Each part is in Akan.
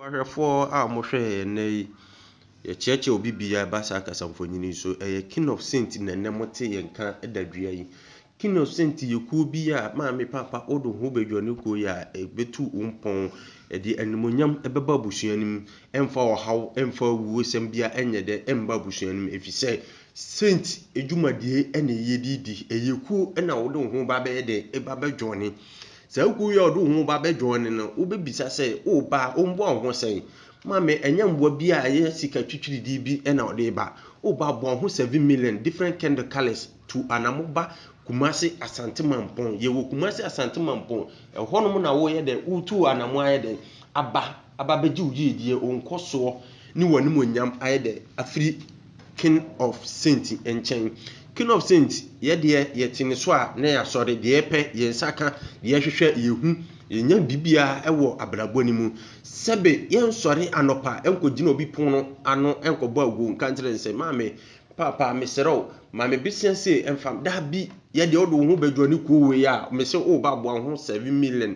Ɔbɔhwɛfoɔ a wɔhwɛ yɛn ɛnnɛ yi, yɛkyerɛkyerɛ obi biribi a ɛba saa kasamfonin yi so. Ɛyɛ King of Saints na ɛnnɛ mote yɛn nka da dua yi. King of Saints yɛ kuo bi a maame papa wode wo ho bɛdwa ne kuo yi a, ɛbɛtu wo mpɔn. Ɛde animuonyam ɛbɛba abusua no mu. Ɛmfa ɔhaw, ɛmfa awuosɛm biara ɛnyɛ dɛ ɛmma abusua no mu. Ɛfiri sɛ Saint adwumadie na ɛyɛ de di. Ɛyɛ kuo na wode wo ho ba bɛyɛ dɛ, ba bɛjoine. Sɛ wo kunu yɛ ɔde wo ho ba bɛdwoɔ no no, wobɛbisa sɛ, O baa, ɔmmoa wo ho sɛn? Ma me, ɛnyɛ mmoa bi a ɛyɛ sika twitwiridii bi na ɔde reba. O baa, boa wo ho seven million different candle colours tu anamo ba Kumasi Asante Mampong. Yɛwɔ Kumasi Asante Mampong. Ɛhɔnom na woreyɛ dɛn? Woretu anamo ayɛ dɛn? Aba Aba abɛgye wo yiedie, wo nkɔsoɔ ne w'animuonyam ayɛ dɛ afiri King of Saint nkyɛn. King of Saint, yɛ deɛ yɛte ne so a na yɛasɔre, deɛ yɛpɛ, yɛn nsa ka, deɛ yɛhwehwɛ, yɛhu, yɛnya biribiara wɔ abrabɔ no mu. Sɛbe yɛnsɔre anɔpa nkɔgyina obi pono ano nkɔbɔ aguo nka nkyerɛ no sɛ, Maame, Paapa, mesrɛ wo, ma me besia sei mfa, daabi, yɛ deɛ wode wo ho bɛdwɔne kuo wei a, mese wo ba boa wo ho seven million,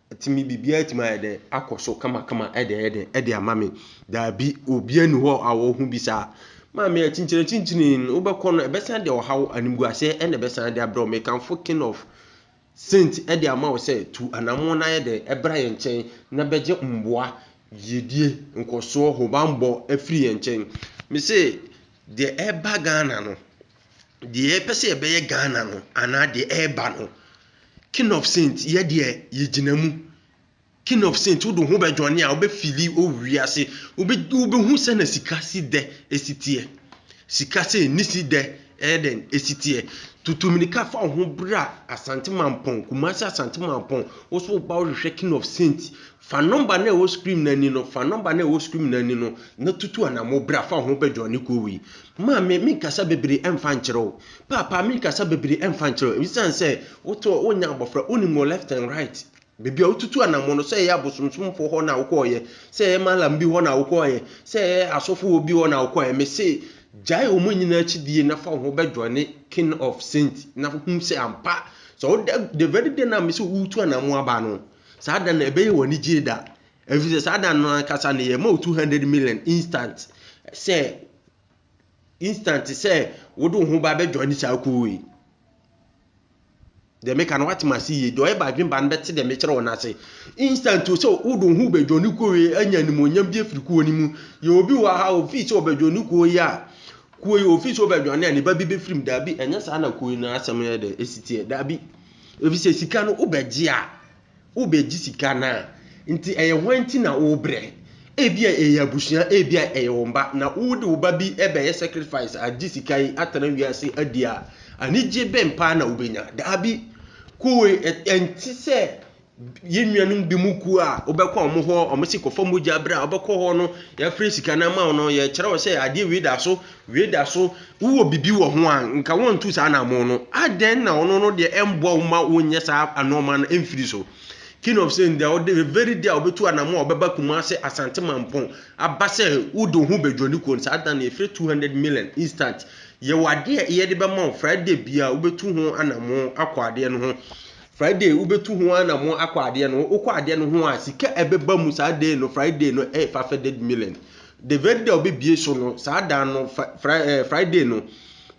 Ɛtumi, biribiara tumi ayɛ dɛ akɔ so kamakama dɛɛdɛɛ de ama me. Daabi, obiara nni hɔ a ɔwɔ ho bi saa. Maame, akyinkyinakyinkyini no, wobɛkɔ no, ɛbɛsan de ɔhaw, animguaseɛ na ɛbɛsan de abrɛ wo. Mekamfo King of Saint de ama wo sɛ, tu anammɔn na ayɛ dɛn bra yɛn nkyɛn na bɛgye mmoa, yiedie, nkɔsoɔ, hobammɔ afiri yɛn nkyɛn. Mese, deɛ ɛreba Ghana no, deɛ yɛpɛ sɛ yɛbɛyɛ Ghana no anaa deɛ ɛreba no, king of saint yɛ deɛ yɛgyina mu. King of saint wode ho bɛdwane a wobɛfili owie ase wobɛhu sɛ na sika si dɛ ɛsi teɛ. Sika sɛ ɛni si dɛ ɛyɛ dɛn ɛsi teɛ. Tutu mmirika fa wo ho bra Asante Mampɔn, Kumasi Asante Mampɔn, wo so woba wohwehwɛ king of saint Fa nɔmba no a ɛwɔ screen no ani no, fa nɔmba no a ɛwɔ screen no ani no, na tutu anamɔ bra fa wo ho bɛjoin ne kuo wei. Maame, menkasa bebree ɛmfa nkyerɛ wo. Paapa, menkasa bebree ɛmfa nkyerɛ wo. Esiane sɛ wotɔ, wonya abɔfra, wonim wɔn left and right. Baabi a wotutu anamɔ no, sɛ ɛyɛ abosomsomfoɔ hɔ na wokɔeɛ, sɛ ɛyɛ malam bi hɔ na wokɔeɛ, sɛ ɛyɛ asɔfo wɔ bi hɔ na wokɔeɛ, mese gyae wɔn nyinaa akyi die na fa wo ho bɛjoin ne king of saint na hu sɛ ampa, sɛ woda, the very day no a mese woretu anamɔ aba no, Saa da no, ɛbɛyɛ wo anigyeɛ da, ɛfiri sɛ saa da no ankasa no, yɛma wo 200 million instant sɛ instant sɛ wode wo ho ba bɛdwa ne saa kuo yi. Deɛ meka no woatem ase yie, deɛ ɔyɛ badwen ba no bɛte deɛ mekyerɛ wo no ase. Instant o sɛ wode wo ho bɛdwa ne kuo yi anya animuonyam bi afiri kuo no mu. Yɛ obi wɔ ha ofii sɛ ɔbɛdwa ne kuo yi a, kuo yi ofii sɛ ɔbɛdwane a ne ba bi bɛfirim. Daabi, ɛnyɛ saa na kuo yi no asɛm yɛ dɛ, ɛsiteɛ, daabi. Efisɛ sika no wobɛgye a, wobɛgye sika no a, nti ɛyɛ hwan nti na wobrɛ? Ebia ɛyɛ abusua, ebia ɛyɛ wo mma, na wode wo ba bi bɛyɛ sacrifice agye sika yi atena wiase adi a, anigye bɛn paa na wobɛnya? Daabi, Koe, ɛnte sɛ Yɛn nuanom bi mu kuo a wobɛkɔ wɔn hɔ, wɔn se kɔfa mogya bra, wobɛkɔ hɔ no, yɛafrɛ sika no ama wo no, yɛkyerɛ wo sɛ adeɛ wei da so, wei da so, wowɔ biribi wɔ ho a, nka wɔntu saa anamo no. Adɛn na ɔno no deɛ ɛmboa wo ma wonyɛ saa anɔɔma no mfiri so? King of Saints deɛ ɔde the very day a ɔbɛtu anamo a ɔbɛba Kumase Asante Mampɔn aba sɛ wode wo ho bɛdwa ne kuo no, saa da no yɛfrɛ 200 million instant. Yɛwɔ adeɛ yɛde bɛma wo Friday bia wobɛtu ho anamo akɔ adeɛ no ho. Friday wobɛtu ho anamɔ akɔ adeɛ no wokɔ adeɛ no ho a sika ɛbɛba mu saa day no Friday no ɛyɛ fafɛded million the very day wobɛbie so no saa dan no Friday no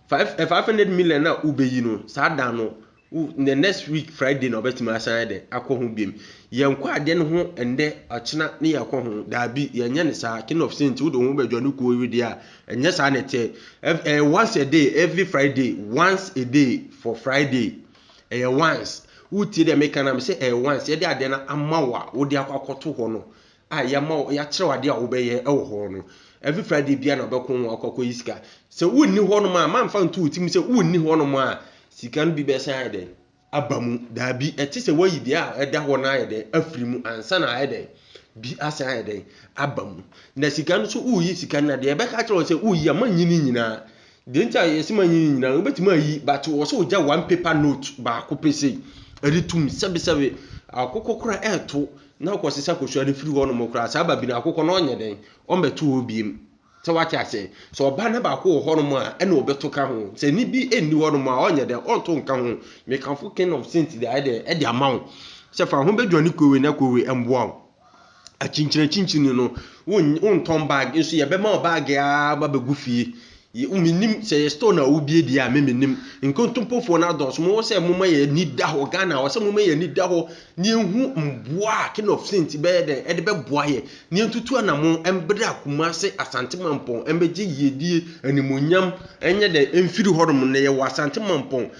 fafɛded million a wobɛyi no saa dan no the next week Friday na wobɛtumi asan ayɛ dɛ akɔ ho biom yɛnkɔ adeɛ no ho ɛndɛ ɔkyena ne yɛkɔ ho daabi yɛnyɛ ne saa king of saint wode ho bɛdwa no kuo wedeɛ a ɛnyɛ saa na ɛteɛ once a day every Friday once a day for Friday Ɛyɛ once. Wotie deɛ meka na mesɛ ɛyɛ once. Yɛde adeɛ no ama wo a, wode akɔ akɔto hɔ no a yɛama wo yɛakyerɛw adeɛ a wobɛyɛ wɔ hɔ no. Every Friday bia na wobɛko ho akɔ akɔyi sika. Sɛ wonni hɔ nom a, mamfa nto wo tirim sɛ wonni hɔ nom a sika no bi bɛsan ayɛ dɛn aba mu. Daabi, ɛte sɛ woayi deɛ a ɛda hɔ no ayɛ dɛn afiri mu ansa na ayɛ dɛn bi asan ayɛ dɛn aba mu. Na sika no so woyi sika no na deɛ ɛbɛka kyerɛ wo sɛ woyi a manyini nyinaa Deɛ nti a yɛsɛ ma yi ne nyinaa wobɛtumi ayi but wɔ sɛ wogya one paper note baako pɛ sei ɛde tum sɛbesɛbe akokɔ kora ɛɛto na akɔ sesa kosua no firi hɔ nom koraa saa ba bi no akokɔ no ɔnyɛ dɛn ɔmbɛto hɔ biem sɛ wate aseɛ sɛ ɔba no baako wɔ hɔ nom a ɛna ɔbɛto ka ho sɛ ne bi ɛnni hɔ nom a ɔnyɛ dɛn ɔnto nka ho mekamfo king of saint deɛ ɛde ama wo sɛ fa ho bɛdwane kowe na kowe mboa wo Akyinkyini akyinkyini no, wontɔn bag nso yɛbɛma wo bag ara ba bɛgu fie. Menim sɛ yɛ store na wobie deɛ a me menim. Nkontompofoɔ no adɔɔso. Mowɔ sɛ moma yɛ ani da hɔ. Ghana wɔ sɛ moma yɛ ani da hɔ na yɛhu mmoa a King of Saint bɛyɛ dɛn ɛde bɛboa yɛ na yɛntutu anamo mbra Kumase Asante Mampɔn mbɛgye yiedie animonyam ɛnyɛ dɛn mfiri hɔnom na yɛwɔ Asante Mampɔn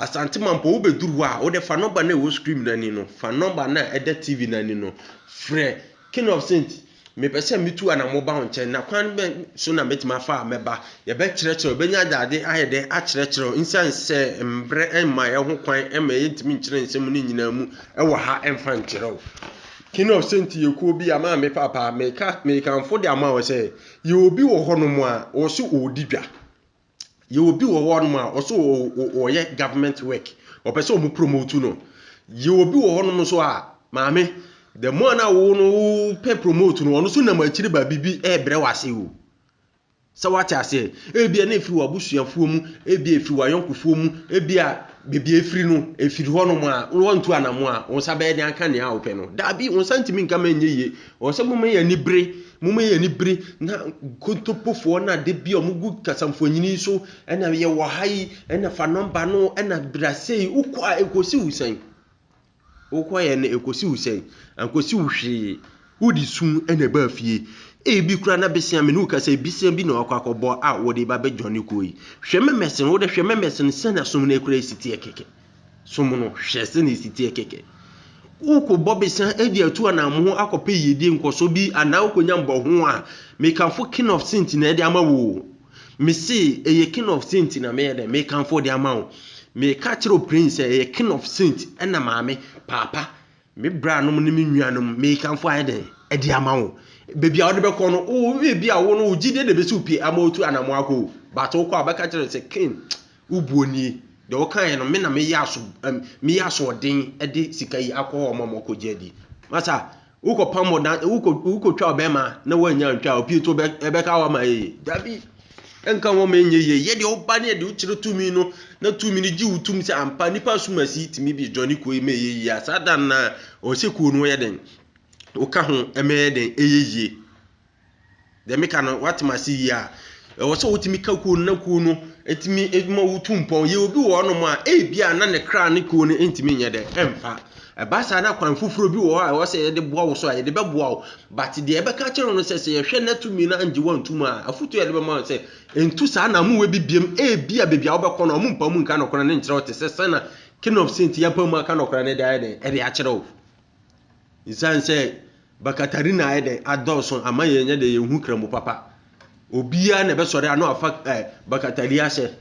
Asante Mampong, wobɛduru hɔ a, wode fa nɔmba no a ɛwɔ screen no ani no, fa nɔmba no a ɛda TV no ani no frɛ King of Saints. Mepɛ sɛ metu anamɔ ba wo nkyɛn, na kwan bɛn so na mɛtumi afa a mɛba? Yɛbɛkyerɛkyerɛ wo, yɛbɛnya adagye ayɛ dɛn akyerɛkyerɛ wo, ɛsiane sɛ mbrɛ mma yɛn ho kwan ma yɛntumi nkyerɛ nsɛm no nyinaa mu wɔ ha mfa nkyerɛ wo. King of Saints yɛ kuo bi a maame papa, meka, mekamfo de ama wo sɛ, yɛ obi wɔ hɔnom a, wɔse ɔɔdi dwa. Yɛwɔ bi wɔ hɔnom a, wɔso wɔyɛ government work, wɔpɛ sɛ wɔn promote no. Yɛwɔ bi wɔ hɔnom nso a, maame, the more na wo no wopɛ promote no, ɔno nso nam akyiri baabi bi ɛrebrɛ w'ase o. Sɛ wate aseɛ, ebia na efiri w'abusuafoɔ mu, ebia efiri w'ayɔnkofoɔ mu, ebia baabi efiri no, efiri hɔnom a, wɔntu anamo a, wɔn nsa bɛyɛ de anka nea wopɛ no. Daabi, wɔn nsa ntumi nka ma ɛnyɛ yie, Ɔwɔ sɛ moma yɛ anibere, moma yɛ anibere na nkontompofoɔ na da bi a wɔgu kasamfoɔnyini so ɛna yɛwɔ ha yi ɛna fa nɔmba no ɛna bra sei wokɔ a ɛkɔsi wo sɛn wokɔ yɛ no ɛkɔsi wo sɛn ankɔsi wo hwee wode sum ɛna ɛbaa fie ebi kura na besia me ne wokasa besia bi na wakɔ akɔbɔ a wɔde ba bɛdwane kɔɔ yi hwɛ mɛmɛsen wode hwɛ mɛmɛsen sɛna som no kura ɛsi teɛ kɛkɛ som no, hwɛ sɛnea esi teɛ kɛkɛ! Wokɔ bɔbesan de atu anammo akɔpɛ yiedie nkɔso bi anaa wokɔnya mmɔho a, mekamfo King of Saint na ɛde ama wo o. Mese ɛyɛ King of Saint na meyɛ dɛ mekamfo de ama wo. Meka kyerɛ wo Prince sɛ ɛyɛ King of Saint ɛna maame, paapa, Me branom ne me nuanom, merekamfo ayɛ dɛn de ama wo? Baabi a wode bɛkɔ no, wo ebi a wo no wo gyidie na ebesi wo pie ama wotu anamɔ akɔ o. But wokɔ a wobɛka kyerɛ no sɛ Cain, wo buo nie. Deɛ wokaeɛ no, me na meyɛ aso ɛm meyɛ asoɔden de sika yi akɔ hɔ ma wɔakɔgye adi. Masa, wokɔpam ɔdan wokɔ wokɔtwaa ɔbarima na woannya antwa a opie nti wobɛ ɛbɛka wo ama yɛ yie? Dabi. Ɛnka ho ma ɛnyɛ yie, yɛ deɛ woba ne yɛ deɛ wokyerɛ tumi no, na tumi no gye wo tom sɛ ampa nnipa asomasi yi tumi bi dwane kuo yi ma ɛyɛ yie a, saa da no na ɔwɔ sɛ kuo no yɛ den, woka ho ma ɛyɛ den, ɛyɛ yie. Deɛ meka no, woate ma se yie a, ɛwɔ sɛ wotumi ka kuo no na kuo no ɛtumi ma wotu mpɔn. Yɛ obi wɔ hɔnom a, ebi a na ne kra ne kuo no ntumi nyɛ dɛ, ɛmfa. Ɛba saa na kwan foforɔ bi wɔ hɔ a ɛwɔ sɛ yɛde boa wo so a, yɛde bɛboa wo. But deɛ yɛbɛka akyerɛ wo no sɛ, sɛ yɛhwɛ na tumi no angye woantu mu a, afotu a yɛde bɛma no sɛ, ntu saa naamowa bi biam, ebia baabi a wobɛkɔ no, wɔmpaw mu nka nɔkora no nkyerɛ wo te sɛ sɛna King of Saint yi apaw mu aka nɔkora no de ayɛ dɛn, ɛde akyerɛ wo. Nsan sɛ Bakatarina ayɛ dɛn, adɔɔso ama yɛnyɛ dɛn, yɛnhu Kramu papa. Obiara na ɛbɛsɔre ano afa eh, Bakatari ahyɛ.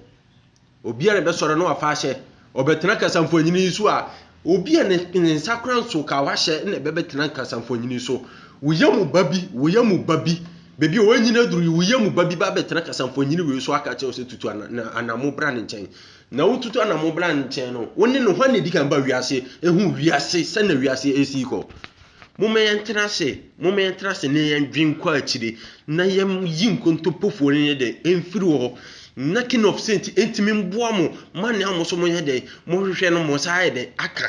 Obi a ne bɛsɔre no afa ahyɛ, ɔbɛtena kasamfoanyini yi so a, obi a ne, ne nsa kora nso ka wahyɛ na ɛbɛbɛtena kasamfoanyini so. Wo yam ba bi, wo yam ba bi, baabi a wɔanyini aduru yi, wo yam ba bi ba bɛtena kasamfoanyini wei so aka kyerɛ wo sɛ tutu ana, na anamo bra ne nkyɛn. Na wotutu anamo bra ne nkyɛn no, wo ne no hwan na ɛdi kan ba wiase? Ehu wiase, sɛnea wiase ɛresi kɔ. Momma yɛntena ase, momma yɛntena ase na yɛndwen kɔ akyire, na yɛnyi nkontompofoɔ no nyɛ dɛn, ɛmfiri wɔ hɔ. Na king of saints ɛntumi mboa mo ma nea mo nso moyɛ dɛn, mohwehwɛ no mo nsa ayɛ dɛn aka.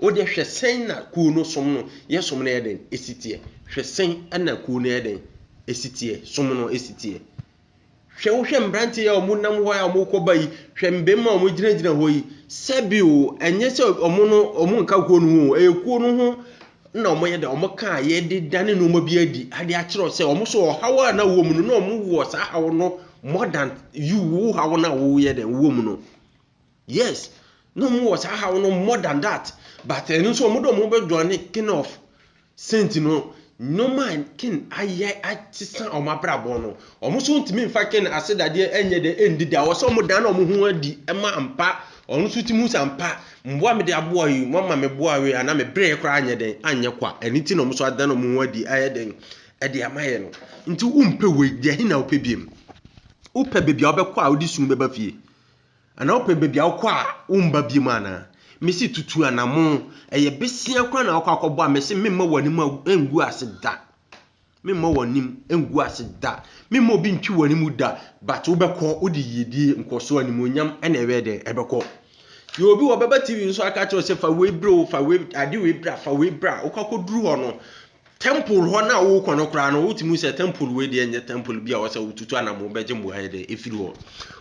Wo deɛ hwɛ sɛn na kuo no som no, yɛsom no yɛ dɛn ɛsi teɛ. Hwɛ sɛn na kuo no yɛ dɛn ɛsi teɛ, som no ɛsi teɛ. Hwɛ, wohwɛ mmeranteɛ yi a wɔnam hɔ a wɔrekɔba yi, hwɛ mmarima a wɔgyinagyina hɔ yi, sɛbe o, ɛnyɛ sɛ wɔn no, wɔnka kuo no ho o, ɛyɛ kuo no ho na wɔyɛ dɛ, wɔka a yɛde dane nneɛma bi adi de akyerɛ sɛ wɔn nso ɔhaw a na wɔwɔ mu no, na wɔwɔ saa haw no more than you, wo haw no a woyɛ dɛn, wowɔ mu no. Yes na ɔmo wɔ saa haw no more than that but ɛno nso ɔmo de ɔmo ho bɛ joine king of saint no nnoɔma a king ayɛ asesa ɔmo abrabɔ no ɔmo nso ntumi nfa king asedadeɛ ɛnyɛ dɛ ɛndi da ɔsɛ ɔmo dan ɔmo ho adi ɛma ampa ɔno nso tumi hu sɛ ampa mmoa mede aboa yi mo ama me boa wei anaa me brɛ koraa anyɛ dɛn anyɛ kwa ɛno ti na ɔmo nso adan ɔmo ho adi ayɛ dɛn ɛde ama yɛ no nti wompɛ wei deɛ he na wopɛ biem wopɛ baabi a wobɛkɔ a wode sunu bɛba fie Anaa wopɛ baabi a wokɔ a womba biom anaa? Mese tutu anamon, ɛyɛ besia koraa na wakɔ akɔbɔ a, mese memma w'anim angu ase da. Memma w'anim angu ase da. Memma obi ntwe w'anim da, but wobɛkɔ, wode yiedie, nkɔsoɔ, animuonyam na ɛbɛyɛ dɛn? Ɛbɛkɔ. Yɛ obi wɔ bɛba TV nso aka kyerɛ wo sɛ fa wei brɛ o, fa wei, ade wei bra, fa wei bra, wokɔ akɔduru hɔ no, Temple hɔ no a worekɔ no koraa no, wotumi hu sɛ temple wei deɛ nyɛ temple bi a wɔsɛ wotutu anamo bɛgye mmoa yɛ dɛ efiri hɔ.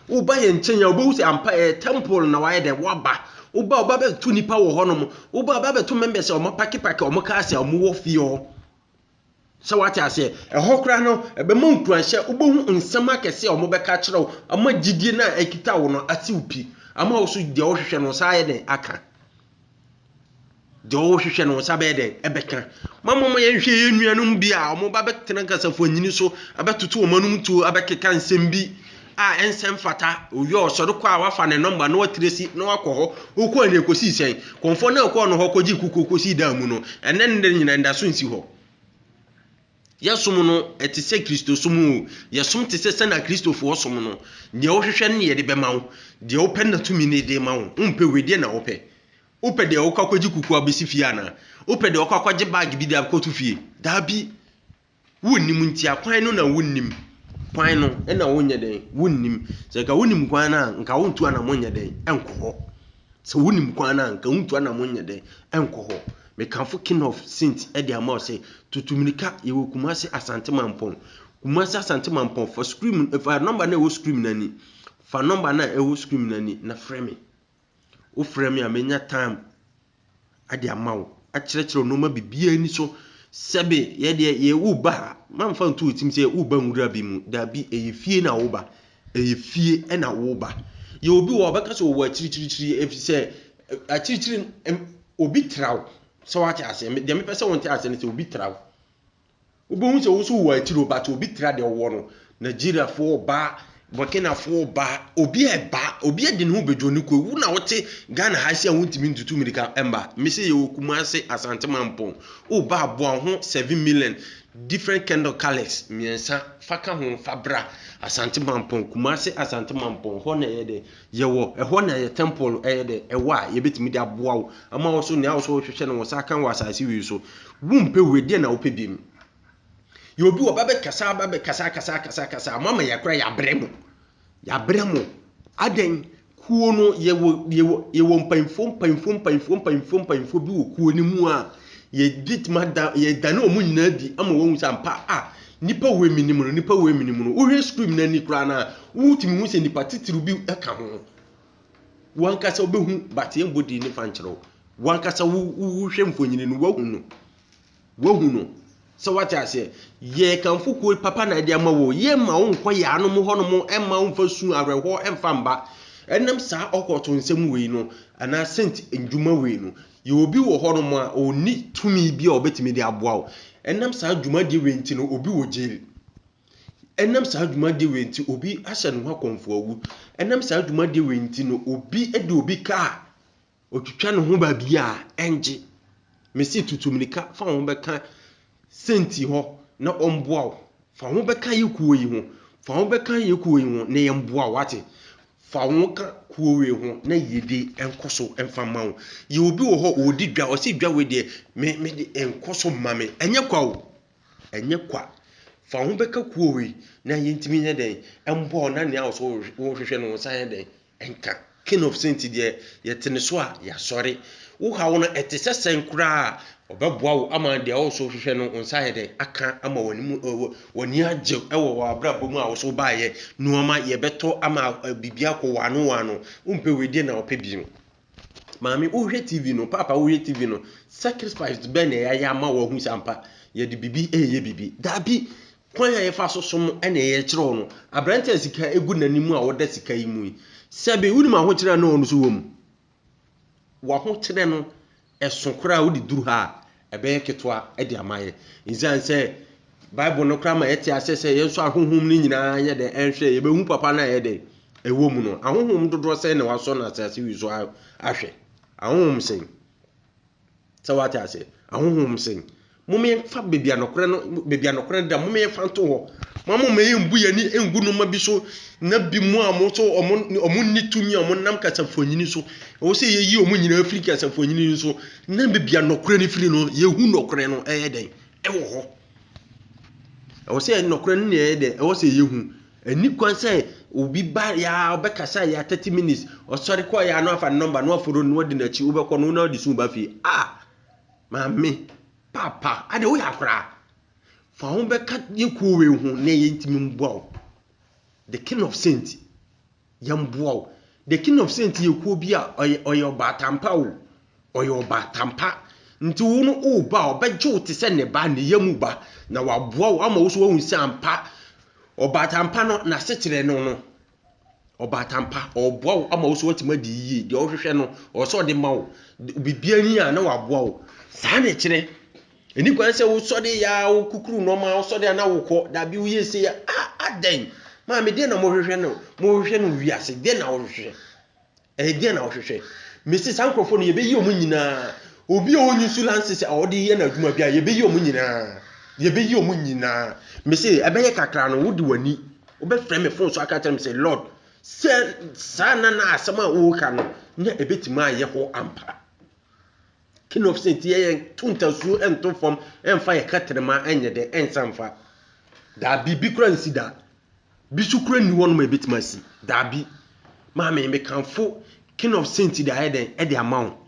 Woba yɛn nkyɛn a, wobɛhu sɛ ampa ɛyɛ temple na wayɛ dɛ waba. Woba woba bɛto nipa wɔ hɔnom. Woba woba bɛto members a wɔn apake pake wɔn cars a wɔn wɔ fie hɔ. Sɛ wate aseɛ, ɛhɔ koraa no ɛbɛma nkuranhyɛ, wobɛhu nsɛm akɛse a wɔn bɛka akyerɛ wo, ama gyidie no a ɛkita wo no ase wo pi, ama wo so deɛ wohwehwɛ no saa ayɛ dɛ aka. Deɛ ɔrehwehwɛ no wo nsa bɛyɛ dɛn? Ɛbɛka. Momma momma yɛnhwɛ yɛn nuanom bi a wɔba bɛtena Kasafua nyini so abɛtoto wɔn anom tuo abɛkeka nsɛm bi a ɛnsɛ mfata. Owie a ɔsɔre kɔ a wafa ne nɔmba na watiresi na wakɔ hɔ. Wokɔɔ no ɛkɔsii sɛn? Kɔmfoɔ no a ɛkɔɔ no hɔ kɔgyee kukuo kɔsii dan mu no, ɛnnɛ ne nnɛ nyinaa anidaso nsi hɔ. Yɛsom no, ɛte sɛ Kristosom oo, yɛsom te sɛ sɛnea Kristofoɔ som no. Deɛ wohwehwɛ no na yɛde bɛma wo, deɛ wopɛ na tumi no de ma wo. Wompɛ wei, deɛ na wopɛ? Wopɛ deɛ wokɔ akɔgye kukuo abɛsi fie anaa? Wopɛ deɛ wokɔ akɔgye bag bi de akɔto fie? Daabi. Wonnim nti akwan no na wonnim. Kwan no na wonyɛ dɛn? Wonnim. Sɛ nka wonim kwan no a, nka wontu anamɔ nyɛ dɛn? Nkɔ hɔ. Sɛ wunim kwan no a, anka wuntu anammɔn nyɛ dɛ nkɔ hɔ. Mekamfo King of Saint de ama wo sɛ, tutu mmirika, yɛwɔ Kumasi Asante Mampɔn. Kumasi Asante Mampɔn, fa screen, fa number no a ɛwɔ screen no ani. Fa number no a ɛwɔ screen no ani na frɛ me. Wofrɛ me a, menya time de ama wo, akyerɛkyerɛ wo nnoɔma biribiara ani so. Sɛbe yɛ deɛ yɛ woba a, mamfa nto wo tirim sɛ woba nwura bi mu. Dabi, ɛyɛ fie na woba. Ɛyɛ fie na woba. Yɛ obi wɔ hɔ a, ɔbɛka sɛ ɔwɔ akyirikyirikyiri ɛfiri sɛ akyirikyiri, obi tra wo. Sɛ woate aseɛ? Deɛ mepɛ sɛ wonte aseɛ ne sɛ obi tra wo. Wobɛhu sɛ wo nso wowɔ atiro but obi tra deɛ ɔwɔ no, Nigeriafoɔ reba, Burkinafoɔ reba, obi reba, obi de ne ho bɛdwo no kɔ, wo na wote Ghana ha se a wontumi ntutu mirika mma, me se yɛwɔ Kumase, Asante Mampong, woba a boa wo ho seven million different kind of colours mmiɛnsa fa ka ho fa bra Asante Mampong, Kumase Asante Mampong, hɔ na ɛyɛ dɛ. Yɛwɔ ɛhɔ na yɛ tɛmpol no ɛyɛ dɛ ɛwɔ a yɛbɛtumi de aboa wo ama wo so nea wo so wohwehwɛ no wo nsa aka wɔ asase wei so wo mpɛ wei deɛ na wo pɛ biom yɛ obi wɔ ba bɛ kasa ba bɛ kasa kasa kasa kasa mo ama yɛ kora yɛ abrɛ mo yɛ abrɛ mo adɛn kuo no yɛ wɔ yɛ wɔ yɛ wɔ mpanyinfoɔ mpanyinfoɔ mpanyinfoɔ mpanyinfoɔ mpanyinfoɔ bi wɔ kuo no mu a yɛ bɛtumi ada yɛ dane wɔn nyinaa di ama wɔn sɛ ampa a Nnipa wei menim no, nnipa wei menim no. Wohwɛ screen no ani koraa no a, wotumi hu sɛ nnipa titiriw bi ka ho. Wankasa wobɛhu but yɛmbɔ din ne fa nkyerɛ wo. Wankasa wohwɛ mfonyini no, woahu no. Woahu no. Sɛ wate aseɛ, yɛkamfo kuo papa na ɛde ama wo. Yɛmma wo nkɔ yɛanom hɔnom, ɛmma wo mfa su awerɛhoɔ ɛmfa mba. Ɛnam saa ɔkɔɔto nsɛm wei no, anaa sent ndwuma wei no, Yɛ obi wɔ hɔnom a ɔnni tumi bi a ɔbɛtumi de aboa wo. Ɛnam saa dwumadie wei nti no obi wɔ jail. Ɛnam saa dwumadie wei nti obi ahyɛ ne ho akɔmfo awu. Ɛnam saa dwumadie wei nti no obi de obi kaa ɔtwitwa ne ho baabi a ɛngye. Mese tutu mirika fa wo ho bɛka Sɛn ti hɔ na ɔmboa wo. Fa wo ho bɛka yɛ kuo yi ho. Fa wo bɛka yɛ kuo yi ho na yɛ mboa wo wate. Fa wo ho ka kuo wei ho na yɛ de nkɔ so mfa ma wo. Yɛ obi wɔ hɔ ɔɔdi dwa ɔse dwa wei deɛ me me de nkɔ so mma me. Ɛnyɛ kwa o. Ɛnyɛ kwa. Fa wo ho bɛka kuo wei na yɛ ntimi nyɛ dɛn mboa wo na nea ɔse wo hwehwɛ no wo nsa yɛ dɛn Ɛnka King of Saints deɛ yɛte ne so a yɛasɔre. Wo haw no ɛte sɛ sɛn koraa a, ɔbɛboa wo ama deɛ wo nso wohwehwɛ no wo nsa ayɛ dɛn aka ama w'anim w'ani agye wɔ w'abrabɔ mu a wo nso wobaeɛ. Nnoɔma yɛbɛtɔ ama biribi akɔ w'ano w'ano. Wompɛ wei deɛ na wopɛ bi no. Maame wohwɛ TV no, papa wohwɛ TV no, sacrifice bɛn na yɛayɛ ama wɔahu sɛ ampa yɛde biribi ɛyɛ biribi. Daabi, kwan a yɛfa so som ɛna ɛyɛ kyerɛw no. Aberante a sika egu n'anim a ɔda sika yi mu yi, sɛbe wonim ahokyerɛ a na ɔno nso wɔ mu. W'ahokyerɛ no, Ɛso koraa wode duru ha a, ɛbɛyɛ ketewa de ama yɛn. Esiane sɛ Bible no koraa ma yɛte aseɛ sɛ yɛn nso ahonhom no nyinaa yɛ dɛn ɛnhwɛ yɛn, yɛbɛhu papa no a ɛyɛ dɛn ɛwɔ mu no. Ahonhom dodoɔ sɛn na wɔasɔ no asase wi so ahwɛ? Ahonhom sɛn? Sɛ wate aseɛ? Ahonhom sɛn? Momma yɛmfa baabi a nokorɛ no, baabi a nokorɛ no da, momma yɛmfa nto hɔ. Momma momma yɛmbu yɛn ani ngu nneɛma bi so, na bi mu a wɔn nso wɔn wɔn nni tumi a wɔn nam kasafuanyini so. Ɛwɔ sɛ yɛyi wɔn nyinaa firi kasafuanyini no so, na baabi a nokorɛ no firi no, yɛhu nokorɛ no ɛyɛ dɛn ɛwɔ hɔ. Ɛwɔ sɛ nokorɛ no na ɛyɛ dɛn ɛwɔ sɛ yɛhu. Ɛni kwan sɛ obi ba yaa ɔbɛkasa yaa thirty minutes, ɔsɔre kɔ yaa na wafa ne nɔmba na waforo no na wadi n'akyi, wobɛkɔ no na wode su ba fie. Ah! Maame, Paapa, adɛ woyɛ akora? Fa ho bɛka yɛ kuo wei ho na yɛntumi mboa wo. The King of Saint, yɛmboa wo. The King of Saint yɛ kuo bi a ɔyɛ ɔyɛ ɔbaatampa o. Ɔyɛ ɔbaatampa. Nti wo no woba a, ɔbɛgye wo te sɛ ne ba, ne yam ba, na waboa wo ama wo nso woahu sɛ ampa ɔbaatampa no n'asekyerɛ no no, Ɔbaatan pa, ɔreboa wo ama wo nso woatumi adi yie. Deɛ wohwehwɛ no, ɔwɔ sɛ ɔde ma wo. Biribiara ni a na waboa wo. Saa na ɛkyerɛ. Ɛni kwan sɛ wosɔre yɛ a wokukuru nneɛma, wosɔre a na wokɔ. Dabi woyɛ sei a, ah, adɛn? Maame, deɛ na mohwehwɛ no, mohwehwɛ no wiase, deɛ na wohwehwɛ? Ɛdeɛn na wohwehwɛ? Mese saa nkurɔfoɔ no yɛbɛyi wɔn nyinaa. Obi a ɔnyi so lances a ɔde yɛ n'adwuma bi a yɛbɛyi wɔn nyinaa. Yɛbɛyi wɔn nyinaa. Mese ɛbɛyɛ kakra no wode w'ani wobɛfrɛ me fon so aka kyerɛ me sɛ Lord sɛ saa na na asɛm a woka no na ɛbɛtumi ayɛ hɔ ampa. King of Saints yɛ yɛn to ntasuo nto fam ɛmfa yɛ kɛtɛnɛma ɛnyɛ dɛ ɛnsa mfa. Daabi bi kora nsi da. Bi so koraa nni hɔnom a ɛbɛtumi asi. Daabi. Maame, mekamfo King of Saints de ayɛ dɛn? De ama wo.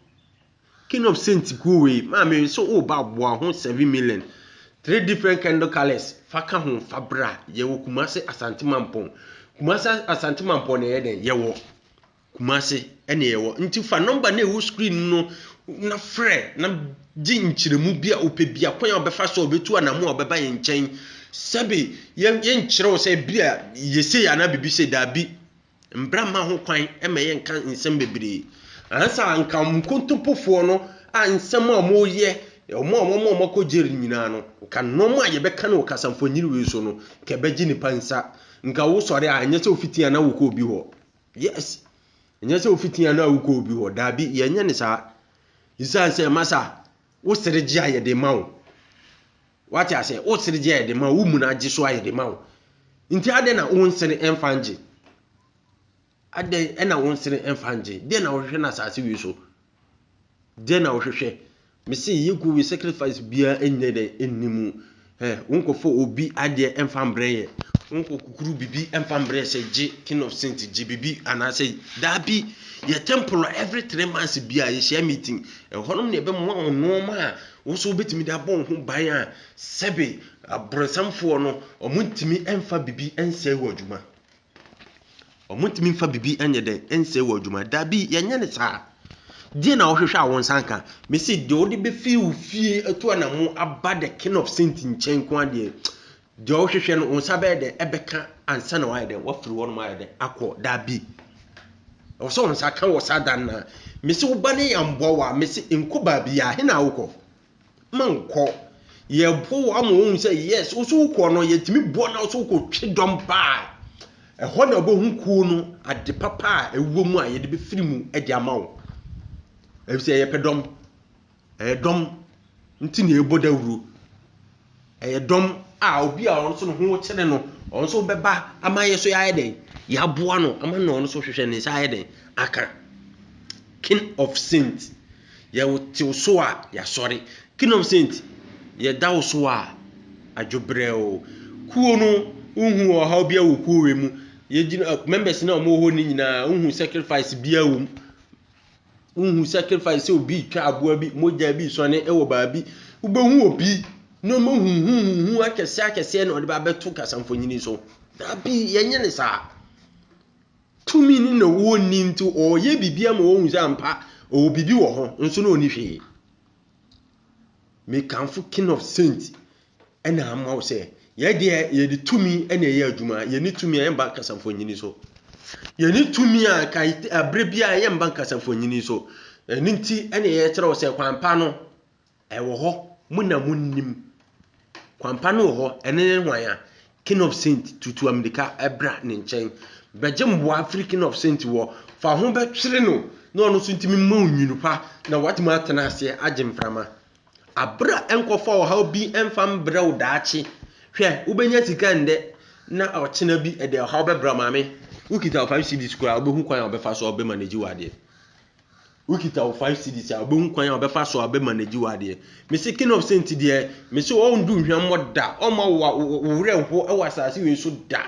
King of Saints kuo wei, maame sɛ woba a boa ho seven million. Three different candle colours, fa ka ho, fa bra. Yɛwɔ Kumasi Asante Mampɔn. Kumasi Asante Mampɔn na ɛyɛ dɛn? Yɛwɔ. Kumase ɛne yɛwɔ nti fa nɔmba no a ɛwɔ screen no na frɛ na gye nkyerɛmu bi a ɔpɛ bi akwan a ɔbɛfa so a ɔbɛtu anamo a ɔbɛba yɛn nkyɛn sɛbe yɛnkyerɛ wo sɛ bi a yɛsei anaa biribi sɛ daabi mbra mma ho kwan ma yɛnka nsɛm bebree ansa nka nkontompofoɔ no a nsɛm a wɔyɛ wɔn a wɔn a wɔakɔ jail nyinaa no nka nɔɔma a yɛbɛka no wɔ kasamfonyini wei so no nka ɛbɛgye nipa nsa nka wosɔre a ɛnyɛ sɛ wofiti anaa wokɔ obi hɔ Yes! Ɛnyɛ sɛ wofiti ano a wokɔ obi hɔ. Daabi, yɛnyɛ ne saa. Esiane sɛ ɛma sa wo sere gye a yɛde ma wo. Wate ase? Wo sere gye a yɛde ma wo, wo mu no agye so a yɛde ma wo. Nti adɛn na wo nsere mfa ngye? Adɛn na wo nsere mfa ngye? Dɛn na wohwehwɛ no asase wei so? Deɛ na wohwehwɛ? Me se yi gu yi sacrifice biara ɛnyɛ dɛ ɛnni mu. Ɛ wonkɔfɔ obi adeɛ ɛmfa mbrɛ yɛ. Wonkɔ kukuru bibi ɛmfa mbrɛ sɛ gye king of saint gye bibi anaasɛ daabi yɛ temple every three months biara yɛhyia meeting. Ɛhɔnom na ɛbɛmoa wɔn nnoɔma a wo nso wobɛtumi de abɔ wo ho ban a sɛbe abrɔnsamfoɔ no wɔntumi ɛmfa bibi ɛnsɛe wɔ adwuma. Wɔntumi mfa biribi nyɛ dɛn nsɛe wɔ adwuma. Dabi, yɛnyɛ no saa. Deɛ na wohwehwɛ a wo nsa nka? Mese deɛ wode bɛfiri wo fie atu anamo aba the king of saint nkyɛn nko ara deɛ deɛ wohwehwɛ no wo nsa bɛyɛ dɛn ɛbɛka ansa na wayɛ dɛn wafiri hɔnom ayɛ dɛn akɔ dabi. Ɛwɔ sɛ wo nsa ka wɔ saa dan no a mese wo ba no yɛ amboa wo a mese nkɔ baabi a he na wokɔ? Monkɔ. Yɛboa wo ama wohu sɛ yes, wo so wokɔ no, yɛtumi boa na wo so wokɔtwe dɔm ba a, ɛhɔ na wobɛhu kuo no, ade papa a ɛwɔ mu a yɛde bɛfiri mu de ama wo. Ɛfiri sɛ yɛpɛ dɔm. Ɛyɛ dɔm nti na yɛbɔ dawuro. Ɛyɛ dɔm a obi a ɔno nso ne ho kyere no, ɔno nso bɛba ama yɛ nso yɛayɛ dɛn? Yɛaboa no ama na ɔno nso hwehwɛ ne nsa ayɛ dɛn? Aka. King of Saint. Yɛte wo so a, yɛasɔre. King of Saint, yɛda wo so a, adwobrɛ o. Kuo no, wohu ɔhaw biara wɔ kuo wei mu. Yɛgyina, members no a wɔwɔ hɔ no nyinaa, wohu sacrifice biara wɔ mu. Wohu sacrifice sɛ obi retwa aboa bi, mogya bi resɔne wɔ baabi. Wobɛhu obi nneɛma huhuhuhu akɛseɛ akɛseɛ na ɔde ba bɛto kasamfonyini so. Dabi, yɛnyɛ ne saa. Tumi ne na wɔnni nti ɔreyɛ biribi ama wɔhu sɛ ampa ɔwɔ biribi wɔ hɔ nso na ɔni hwee. Mekamfo King of Saint na ama wo sɛ yɛn deɛ yɛde tumi na ɛyɛ adwuma yɛne tumi a yɛmba nkasa mfonyini so yɛne tumi a abere bi a yɛmba nkasa mfonyini so ɛno nti ɛna yɛkyerɛ wo sɛ kwampa no ɛwɔ hɔ mo na mo nnim kwampa no wɔ hɔ ɛne ne hwan a king of saint tutu amirika ɛbra ne nkyɛn bɛgye mboa afiri king of saint wɔ fa ho bɛtwere no na ɔno nso ntumi mma onwunu pa na watumi atena aseɛ agye mframa Abrɛ a nkɔfa ɔhaw bi mfa mbrɛ wo daakye. Hwɛ, wobenya sika ndɛ na ɔkyena bi ɛde ɔhaw bɛbra wo maame. Wokita wo five cedis koraa a wobehu kwan a wɔbɛfa so a wɔbɛ manage wo adeɛ. Wokita wo five cedis a wobehu kwan a wɔbɛfa so a wɔbɛ manage wo adeɛ. Mese king of saint deɛ, mese ɔndu hwammɔ da, ɔmma wo werɛ nho wɔ asase wei so da.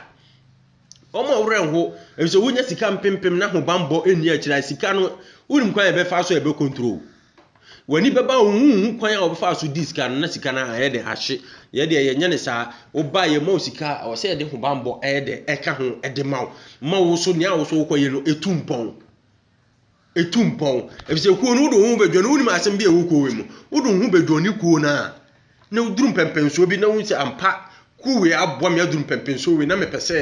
Wɔn a wɔn werɛ nho efisɛ wonya sika mpempem na ahobammɔ nni akyiri a sika no, wonim kwan a ɛbɛfa so a ɛbɛ control. W'ani bɛba a wonhu kwan a wɔbɛfa so di sika no na sika no ayɛ dɛ ahye. Yɛ deɛ yɛnyɛ ne saa. Woba a yɛma wo sika a, ɛwɔ sɛ yɛde hobammɔ ɛyɛ dɛ ɛka ho de ma wo ma wo so nea wo so wokɔyɛ no ɛtu mpɔn. Etu mpɔn, efisɛ kuo no wode wo ho bɛdwene no, wonim asɛm bi a ɛwɔ kuo wei mu. Wode wo ho bɛdwene ne kuo no a, na woduru mpɛmpɛnsoɔ bi na wohu sɛ ampa kuo wei aboa me aduru mpɛmpɛnsoɔ wei na mepɛ sɛ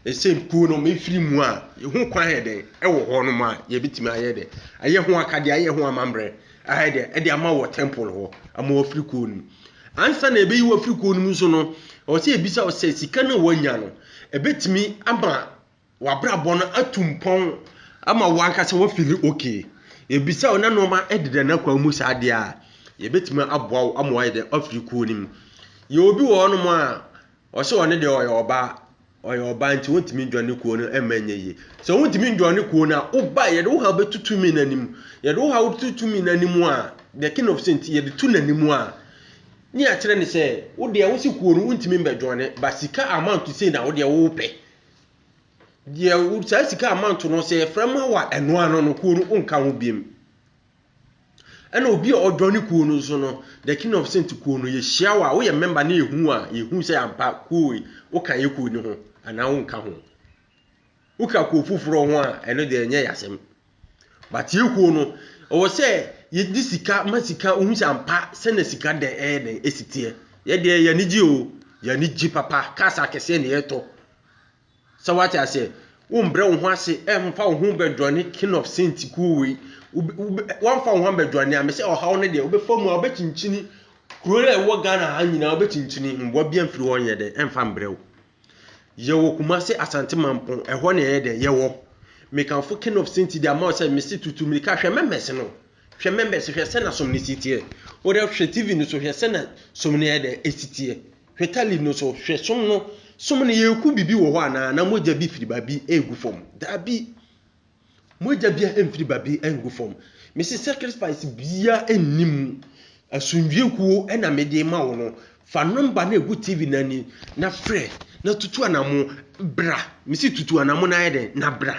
ɛsɛ kuo no mefiri mu a, ho kwan ayɛ dɛn ɛwɔ hɔ nom a yɛbɛtumi ayɛ dɛn ayɛ ho akadeɛ, ayɛ ho amammerɛ ayɛ dɛn ɛde ama wɔ temple hɔ ama wafiri kuo no mu. Ansa na ɛbɛyi wafiri kuo no mu nso no, ɛwɔ sɛ ɛbisa wo sɛ sika no a woanya no, ɛbɛtumi ama w'abrabɔ no atu mpɔn ama wo ankasa woafili okay. Yɛbisa wo na nnoɔma deda n'akwan mu saa deɛ a, yɛbɛtumi aboa wo ama woayɛ dɛ afiri kuo no mu. Yɛwɔ bi wɔ hɔnom a, ɔse ɔno deɛ ɔyɛ ɔbaa, ɔyɛ ɔbaa nti ɔntumi nnjɔne kuo no mma nyɛ yie. Sɛ wontumi nnjɔne kuo no a, woba a yɛde wo haw bɛto tumi no anim. Yɛde wo haw to tumi no anim a, the king of saints, yɛde to n'anim a, ne yɛakyerɛ no sɛ, wo deɛ wose kuo no wontumi mmɛjɔne but sika amount sei na wo deɛ wopɛ. Deɛ wo saa sika a manto no sɛ yɛfrɛ ma wa ɛno ano no kuo no wonka ho biam. Ɛna obi a ɔdɔ ne kuo no nso no the king of saint kuo no yɛhyia wa woyɛ member ne yɛhu a yɛhu sɛ ampa kuo wei woka yɛ kuo no ho anaa wonka ho. Woka kuo foforɔ ho a ɛno deɛ ɛnyɛ yɛ asɛm. But yɛ kuo no ɛwɔ sɛ yɛ di sika ma sika wohu sɛ ampa sɛ na sika dɛn ɛyɛ dɛn ɛsi teɛ yɛ deɛ yɛ anigye o yɛ anigye papa cars akɛseɛ na yɛtɔ sɛ wate aseɛ wo mbrɛ wo ho ase ɛmfa wo ho bɛdwane king of saint kuo wei wamfa wo ho bɛdwane a mesɛ ɔhaw no deɛ wobɛfa mu a wobɛkyinkyini kuro a ɛwɔ Ghana ha nyinaa wobɛkyinkyini mmoa bi amfiri hɔ nyɛ dɛn ɛmfa mbrɛ wo. Yɛwɔ Kumase Asante Mampong, ɛhɔ na ɛyɛ dɛn? Yɛwɔ. Mekamfo King of Sinti de ama wo sɛ mese tutu mirika hwɛ members no. Hwɛ members, hwɛ sɛ na som no si teɛ. Wodɛ hwɛ TV no so hwɛ sɛ na som no yɛ dɛn? Esi teɛ. Hwɛ tali no so hwɛ som no. Som no yɛku bibi wɔ hɔ anaa? Na mogya bi firi baabi ɛɛgu fam? Daabi. Mogya biara mfiri baabi ngu fam. Mese sacrifice biara nni mu. Asomdwie kuo na mede rema wo no. Fa number no a ɛgu TV no anim na frɛ na tutu anamo bra. Mese tutu anamo no ayɛ dɛn na bra.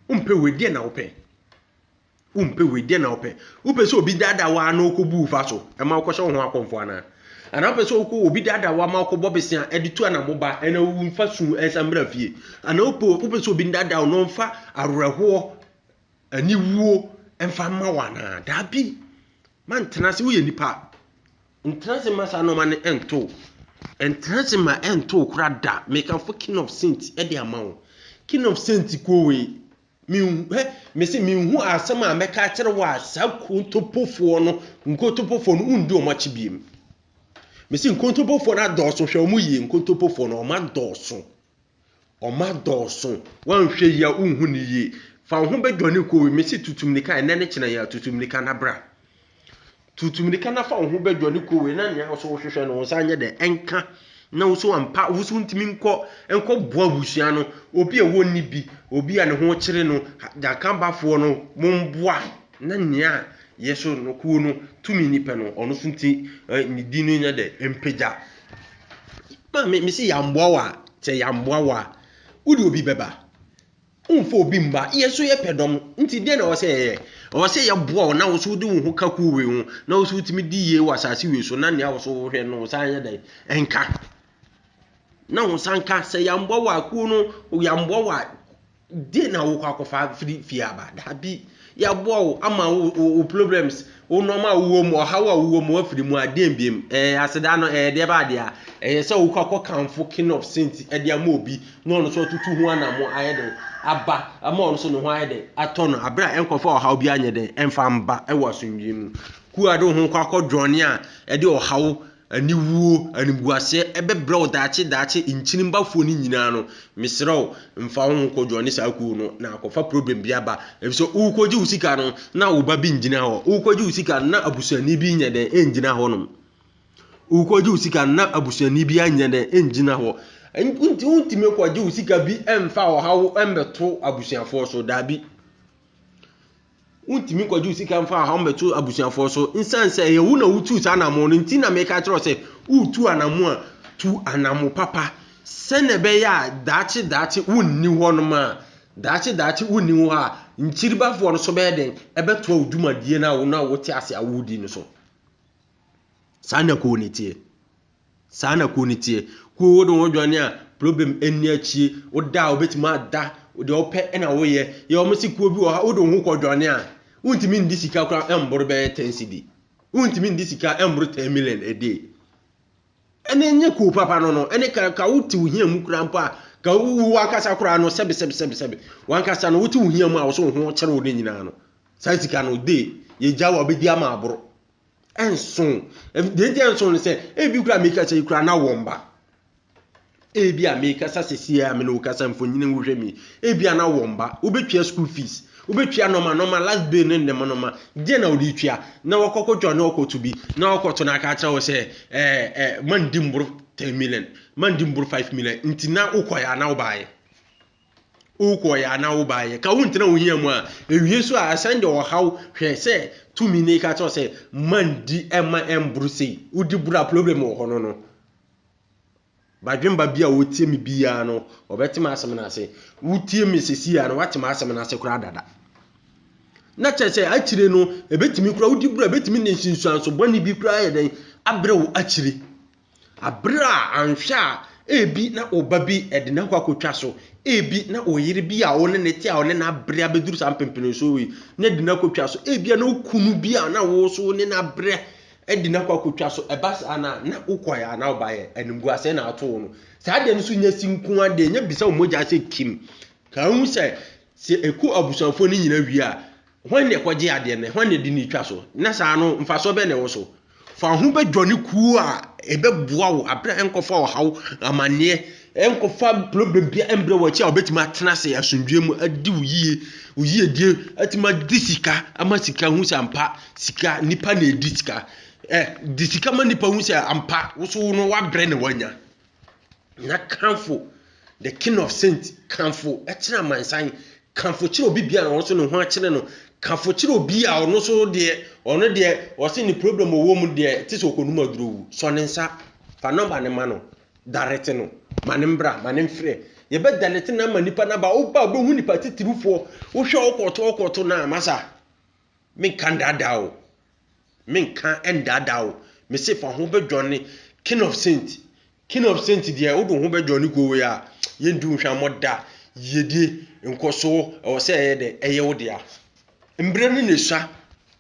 Wompɛ wei deɛ na wopɛ. Wompɛ wei, deɛ na wopɛ? Wopɛ sɛ obi daadaa wo ara na ɔkɔbu wo fa so ma wokɔhyɛ wo ho akɔmfo anaa? Anaa wopɛ sɛ wokɔ obi daadaa wo ama wokɔbɔ besea de tu anamo ba na womfa su nsa mmra fie? Anaa wopɛ wopɛ sɛ obi daadaa wo na ɔmfa awerɛhoɔ, aniwuo mfa mma wo anaa? Daabi, mantena ase, woyɛ nipa. Ntena ase ma saa nneɛma no nto wo. Ntena ase ma ɛnto wo koraa da. Meka fo king of saint de ama wo. King of saint kuo wei, Menhu, hwɛ, mese menhu asɛm a mɛka akyerɛ wo a saa nkontompofoɔ no, nkontompofoɔ no, wondi wɔn akyi biem. Mese nkontompofoɔ no adɔɔso, hwɛ wɔn yie, nkontompofoɔ no, wɔn adɔɔso. Wɔn adɔɔso. Woanhwɛ yie a, wonhu no yie. Fa wo ho bɛdwane kɔ wei, mese tutu mmirika, ɛnnɛ ne kyena yi ara, tutu mmirika na bra. Tutu mmirika na fa wo ho bɛdwa ne kowee na nea wo so wohwehwɛ no wo nsa nyɛ dɛ nka na wo so ampa wo so wontumi nkɔ nkɔ boa abusua no obi a wɔnni bi obi a ne ho kyere no Dakanbafoɔ no mo mboa na nea yɛ so no kuo no tumi ni pɛ no ɔno so nti ne din no nyɛ dɛ mpagya maame mesi yɛ amboa wo a sɛ yɛ amboa wo a wo de obi bɛba. Womfa obi mma. Yɛn nso yɛpɛ dɔm, nti dɛn na ɛwɔ sɛ yɛyɛ? Ɛwɔ sɛ yɛboa wo na wo nso wode wo ho ka kuw wei ho, na wo nso wutumi di yie wɔ asase wei so, na nea wo nso wohwɛ no, wo nsa nyɛ dɛn? Nka. Na wo nsa nka. Sɛ yɛammoa wo a, kuw no, yɛammoa wo a, dɛn na wokɔ akɔfa afiri fie aba? Dabi. Yɛaboa wo ama wo wo wo problems, wo nneɛma a wowɔ mu, ɔhaw a wowɔ mu, wafiri mu a, deɛn biam? Ɛɛ, aseda no, ɛɛ, deɛ ɛbaa deɛ a, ɛyɛ sɛ wokɔ akɔkamfo king of saint de ama obi na ɔno nso atutu ho anamo ayɛ dɛn aba ama ɔno nso ne ho ayɛ dɛn atɔ no aberɛ a ɛnkɔfa ɔhaw bi anyɛ dɛn ɛmfa mba ɛwɔ asomdwoeɛ mu. Kuo a de wo ho kɔ akɔdwɔne a ɛde ɔhaw Aniwuo, animguaseɛ, bɛbrɛ wo daakye, daakye, nkyini bafoɔ no nyinaa no, mesrɛ wo, mfa wo ho kɔ join ne saa kuo no, na kɔfa problem bi aba, efisɛ worekɔgye wo sika no, na wo ba bi ngyina hɔ, worekɔgye wo sika no, na abusuani bi nyɛ dɛn, ɛngyina hɔ nom, worekɔgye wo sika no, na abusuani bi anyɛ dɛn, ɛngyina hɔ, nti wontumi kɔgye wo sika bi mfa ɔhaw mbɛto abusuafoɔ so, daabi. Wontumi nkɔgyew sika mfaa hɔ mmɛto abusuafoɔ so. Nsiane sɛ ɛyɛ wo na wotuu saa anammo no nti na meka kyerɛ wo sɛ woretu anammo a, tu anammo papa sɛnea ɛbɛyɛ a daakye daakye wonni hɔnom a, daakye daakye wonni hɔ a, nkyiribafoɔ no nso bɛyɛ dɛn? Ɛbɛtoa wo dwumadie no a wo na wote ase a woredi no so. Saa na ɛkɔɔ ne teɛ. Saa na kuo no teɛ. Kuo wode wo ho dwane a problem nni akyie. Woda a wobɛtumi ada, deɛ wopɛ na woyɛ. Yɛ wɔn se kuo bi wɔ ha wode wo ho kɔ dwane a, wontumi ndi sika koraa mboro bɛyɛ 10 cedi. Wontumi ndi sika mboro 10 million a day. Ɛne nyɛ kuo papa no no, ɛne ka, ka wote wo hia mu koraa mpo a, ka wo wankasa koraa no sɛbe sɛbe sɛbe sɛbe. Wankasa no wote wo hia mu a wɔso wo ho kyere wo ne nyinaa no. Saa sika no day, yɛgya wo a wobɛdi ama aboro. ɛnso deɛ nti ɛnso no sɛ ebi kura mekasa yi kura na wɔn ba ebi a mekasa sisi a me na okasa mfonyin wohwɛ mi ebi a na wɔn ba wobɛtua school fees wobɛtua nɔma nɔma last bill ne nnɛma nɔma deɛ na wɔde tua na wɔkɔkɔ dwa na wɔkɔto bi na wɔkɔto na aka akyerɛ wɔ sɛ ɛɛ ɛɛ man di mboro ten million man di mboro five million nti na wokɔɛ a na wobaayɛ. wokɔeɛ anaa wobaeɛ, ka wontena wo hia mu a, ɛwie so a ɛsan de ɔhaw hwɛ sɛ tumi ne ka kyerɛ sɛ ma ndi ɛma ɛmboro sei, wodi boro a problem wɔ hɔ no no. Badwemba bi a ɔtie me biara no, ɔbɛte m'asɛm no ase. Wotie me sisi a no, woate m'asɛm no ase koraa dada. Na kyerɛ sɛ akyire no, ɛbɛtumi koraa wodi boro a ɛbɛtumi ne nsunsuanso bɔne bi koraa yɛ dɛn abrɛ wo akyire. Bere a anhwɛ a ebi na wo ba bi de n'akɔ akɔtwa so, ebi na wo yere bi a wo ne ne te a ɔne n'abrɛ abɛduru saa mpempenesoɔ wei na de no akɔtwa so, ebia na wo kunu bi a na wo so wo ne n'abrɛ de no akɔ akɔtwa so, ɛba saa no a, na wokɔeɛ a na wobaeɛ, animguaseɛ na ato wo no. Saa adeɛ no nso nyɛ si nko ara deɛ, nyɛ bisa wo mogya sɛ kim. Ka hu sɛ, sɛ ɛku abusuafoɔ no nyinaa wie a, Hwan na ɛkɔgye adeɛ no, na hwan na ɛde no retwa so, na saa no mfasoɔ bɛn na ɛwɔ so? Fa wo ho bɛdwane kuo a ɛbɛboa wo abrɛ a nkɔfa ɔhaw, amanneɛ, nkɔfa problem biara mbrɛ wo akyi a wobɛtumi atena ase asomdwoeɛ mu adi wo yie, wo yiedie, atumi adi sika ama sika hu sɛ ampa sika, nipa na ɛdi sika. Ɛ, di sika ma nipa hu sɛ ampa wo so no woabrɛ na woanya. na kamfo the king of saints kamfo kyerɛ amansan kamfo kyerɛ obi bia na ɔnso ne ho akyerɛ no kamfo kyerɛ obi a ɔno so deɛ ɔno deɛ ɔse ne problem ɔwɔ mu deɛ te sɛ ɔkɔnum aduro wu sɔ ne nsa fa nɔmba ne ma no darete no ma ne mbra ma ne mfrɛ yɛbɛ darete no ama nipa naba woba wobɛhu nipa titirifoɔ wohwɛ ɔkɔto ɔkɔto na masa Menka ndaadaa wo, menka ndaadaa wo, mese fa ho bɛdwane King of Saint, King of Saint deɛ wode wo ho bɛdwane kuo wei a, yɛndi wo nhwammɔ da, yiedie, nkɔsoɔ, ɛwɔ sɛ ɛyɛ dɛ, ɛyɛ wo dea. Mberɛ no na esua,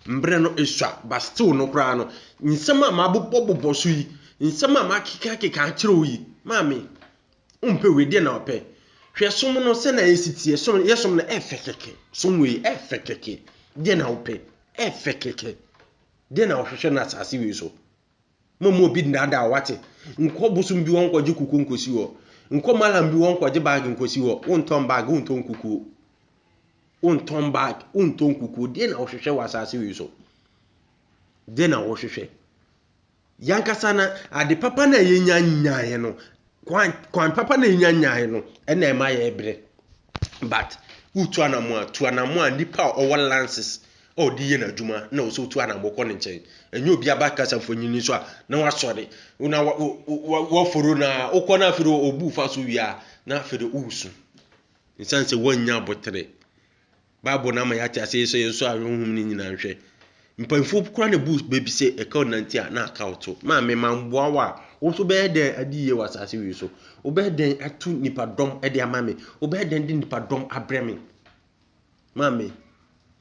mberɛ no esua, but still no koraa no, nsɛm a mabobɔbobɔ so yi, nsɛm a makekakeka akyerɛ wo yi, maame, Wompɛ wei, deɛ na wɔpɛ? Hwɛ som no sɛ na ɛsi teɛ, som yɛ som no ɛfɛ kɛkɛ, som wei ɛfɛ kɛkɛ, deɛ na wopɛ? Ɛfɛ kɛkɛ, deɛ na wɔhwehwɛ no asase wei so? Mo mo obi nnaadaa wate, nkɔ bosom bi hɔ nkɔgye kukuo nkɔsi hɔ, nkɔ malam bi hɔ nkɔgye baage nkɔsi hɔ, wontɔn baage, wontɔn kukuo, wontɔn baage, wontɔn kukuo, deɛ na wɔhwehwɛ wɔ asase wei so? Deɛ na wɔhwehwɛ? Yɛn ankasa no, ade papa no a yɛnya nyaeɛ no, kwan, kwan papa no a yɛnya nyaeɛ no, ɛna ɛma yɛbrɛ. But wotu anamo a, tu anamo a nipa a ɔwɔ lances a ɔde yɛ n'adwuma na ɔsɛ wotu anamo kɔ ne nkyɛn. Ɛnyɛ obi aba kasa mfonini so a na wasɔre na wɔforo no a wokɔ no afei ɔbu fa so wie a na afei de woresu. Nsiane sɛ woannya abotere. Bible no ama yɛate ase sɛ yɛnsɔ a honhom no nyinaa nhwɛ. Mpanyinfoɔ koraa na ebu baabi sɛ ɛka wo nante a na aka wo to. Maame ma mboa wo a, wo nso bɛyɛ dɛn adi yie wɔ asase wei so? Wobɛyɛ dɛn atu nipadɔm de ama me? Wobɛyɛ dɛn de nipadɔm abrɛ me? Maame,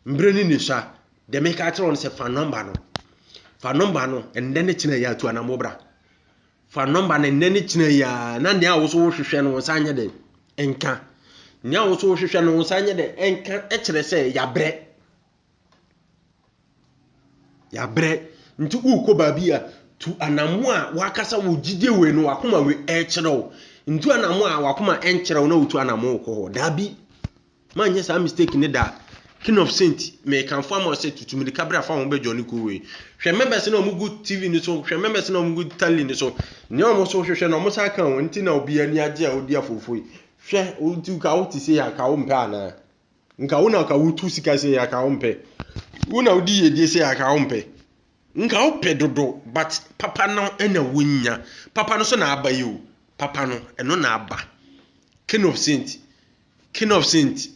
mbrɛ ne ne sua, deɛ meka akyerɛ wo no sɛ fa nɔmba no. Fa nɔmba no, ɛnnɛ ne kyena yɛ atu anamɔ bra. Fa nɔmba no nnɛ ne kyena yi ara na nea wo so wohwehwɛ no wo nsa nyɛ dɛn nka. Nea wo so wohwehwɛ no wo nsa nyɛ dɛn nka kyerɛ sɛ yɛabrɛ. Yɛabrɛ. Nti wokɔ baabi a tu anamo a wakasa wo gyidie wei no wakoma wei ɛkyerɛ wo. Ntu anamo a wakoma ɛnkyerɛ wo na wotu anamo wokɔ hɔ. Daabi. Manyɛ saa mistake no da. King of Saint mekamfo ama wo sɛ tutu mirika bra fa wo ho bɛ Johnny Cool wei. Hwɛ members na wɔn gu TV no so, hwɛ members na wɔn gu tele no so. Nea wɔn so hwehwɛ na wɔn san ka wɔn nti na obiara ani agye a odi afoofo yi. Hwɛ nti ka wo te sei a ka wo mpɛ anaa? Nka wo na ka wotu sika sei a ka wo mpɛ? Wo na wodi yiedie sei a ka wo mpɛ? Nka wo pɛ dodo but papa no na wonya. Papa no so na aba yi o. Papa no ɛno na aba. King of Saint. King of saint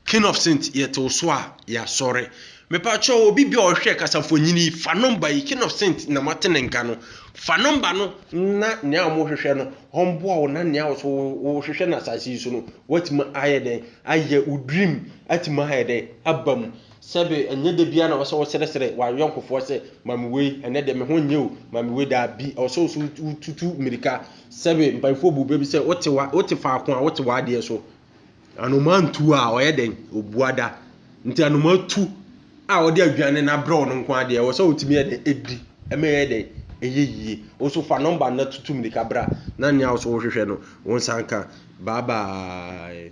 King of saint yɛte wo so a yɛasɔre Mepakyɛw obi bi a ɔhwɛ kasafonyin yi fa number yi King of saint na mate ne nka no fa number no na nea ɔmo hwehwɛ no ɔmboa wo na nea ɔso wohwehwɛ no asase yi so no watumi ayɛ dɛn ayɛ wo dream atumi ayɛ dɛn aba mu sɛbe ɛnyɛ da biara na ɔsɛ wosrɛsrɛ w'ayɔnkofoɔ sɛ ma me wei ɛnɛ deɛ me ho nyɛ o ma me wei daabi ɔsɛ woso wotutu mirika Sɛbe mpaefoɔ bu bɛ bi sɛ wote wa wote faako a wote w'adeɛ so. Anomaa ntu a ɔyɛ dɛn obua da. Nti anomaa tu a ɔde aduane na brɛ ɔno nko adeɛ wɔ sɛ wotumi yɛ dɛn edi ɛmɛ yɛ dɛn ɛyɛ yie. Woso fa nɔmba na tutu mirika bra na nea woso wohwehwɛ no wo nsa nka bye bye.